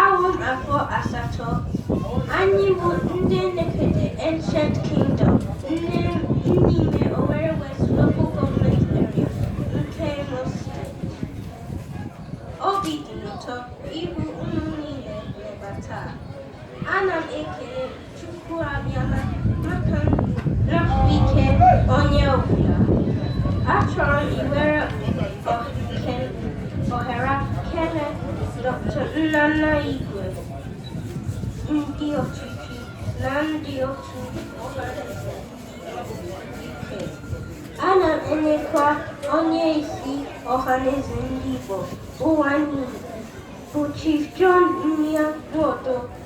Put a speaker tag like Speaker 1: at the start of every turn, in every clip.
Speaker 1: Awụ m afọ asatọ anyị bụ ndị Nekede Ancient Kingdom n'ime Owerri West Local Government Area nke Imo State. Obi dị m ụtọ ịhụ unu niile n'ebe taa. Ana m ekele Chief John Mia Noto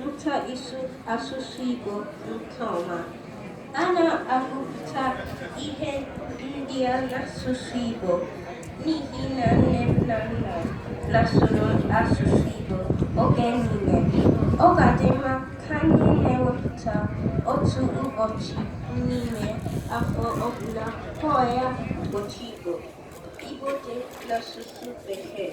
Speaker 1: mụta ịsụ asụsụ Igbo nke ọma. A na-agụpụta ihe ndị a n'asụsụ Igbo n'ihi na nne m na nna m na-asụrụ asụsụ Igbo oge niile. Ọ ga-adị mma ka anyị na-ewepụta otu ụbọchị n'ime afọ ọbụla kpọọ ya ụbọchị Igbo. Igbo Day n'asụsụ Bekee.